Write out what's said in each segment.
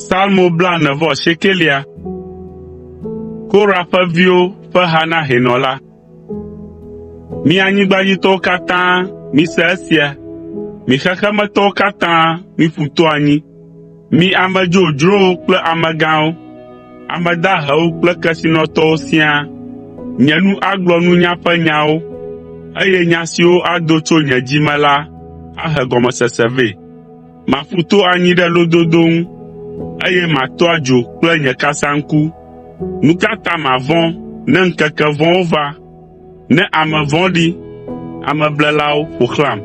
Salmo blaene vɔ asiekelia. Korah ƒe viwo ƒe ha na hɛnɔ la. Mi anyigbadzitɔwo katã, mise esia, mi xexemetɔwo katã, miƒu to anyi. Mi ame dzodzrowo kple amegãwo, ame dahewo kple kesinɔtɔwo siaa, nye nu agblɔ nunya ƒe nyawo, eye nya siwo ado tso nye dzi me la ahe gɔmesese vɛ. Maƒu to anyi ɖe lododo ŋu, eye mato adzo kple nye kasaŋku. Nu ka ta mavɔ̃ ne ŋkeke vɔ̃wo va? Ne ame vɔ̃ɖi, ameblelawo ƒo xlãm,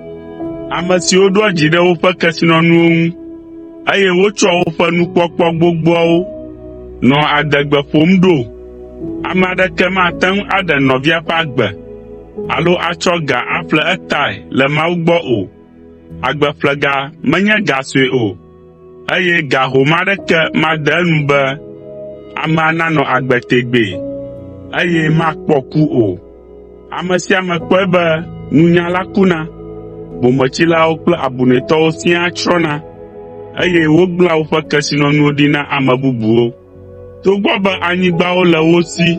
ame siwo ɖoa dzi ɖe woƒe kesinɔnuwo ŋu, eye wotsɔa woƒe nukpɔkpɔ gbogboawo nɔa adegbe ƒom ɖo, ame aɖeke mate ŋu aɖe nɔvia ƒe agbe alo atsɔ ga aƒle etae le Mawu gbɔ o. Agbeƒlega menye ga sue o. eye ga home aɖeke made enu be amea nanɔ agbe tegbee, eye makpɔ ku o. Ame sia ame kpɔe be nunyala kuna, bometsilawo kple abunɛtɔwo siaa tsrɔ̃na, eye wogblẽa woƒe kesinɔnuwo ɖi na ame bubuwo. Togbɔ be anyigbawo le wo si,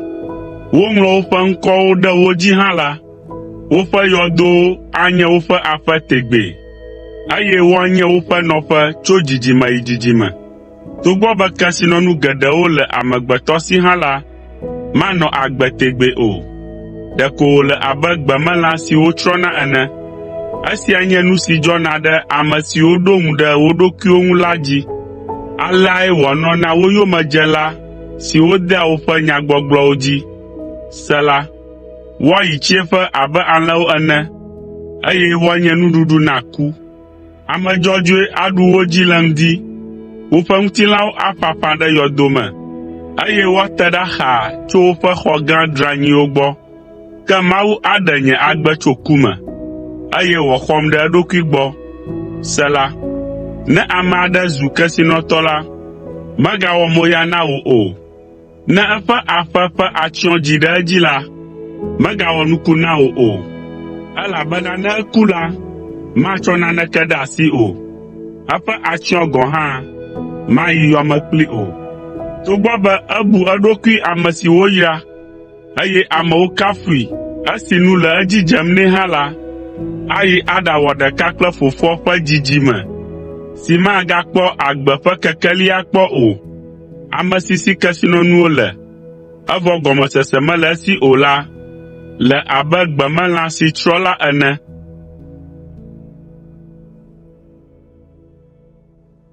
woŋlɔ woƒe ŋkɔwo ɖe wo dzi hã la, woƒe yɔdowo anye woƒe aƒe tegbee, eye woanye woƒe nɔƒe tso dzidzime yi dzidzime. Togbɔ be kesinɔnu geɖewo le amegbetɔ si hã la, manɔ agbe tegbee o. Ɖeko wòle abe gbemelã siwo tsrɔ̃na ene. Esia nye nu si dzɔna ɖe ame siwo ɖo ŋu ɖe wo ɖokuiwo ŋu la dzi. Aleae wòanɔ na wo yomedzela siwo dea woƒe nyagbɔgblɔwo dzi. Sela Woayi tsiẽƒe abe alẽwo ene, eye woanye nuɖuɖu na ku. Ame dzɔdzɔe aɖu wo dzi le ŋdi, woƒe ŋutilãwo aƒaƒã ɖe yɔdo me, eye woate ɖa xaa tso woƒe xɔ gã dranyiwo gbɔ. Ke Mawu aɖe nye agbe tso ku me, eye wòaxɔm ɖe eɖokui gbɔ. Sela Ne ame aɖe zu kesinɔtɔ la, megawɔ moya na wò o. Ne eƒe aƒe ƒe atsyɔ̃ dzi ɖe edzi la, megawɔ nuku na wò o, elabena ne eku la, matsɔ naneke ɖe asi o, eƒe atsyɔ̃ gɔ̃ hã mayi yɔme kpli o. Togbɔ be ebu eɖokui ame si woyra, eye amewo kafui. Esi nu le edzi dzem nɛ hã la, ayi aɖawɔ ɖeka kple fofoa ƒe dzidzime si magakpɔ agbe ƒe kekeli akpɔ o, ame si si kesinɔnuwo le, evɔ gɔmesese mele esi o la le abe gbemelã si tsrɔ̃ la ene.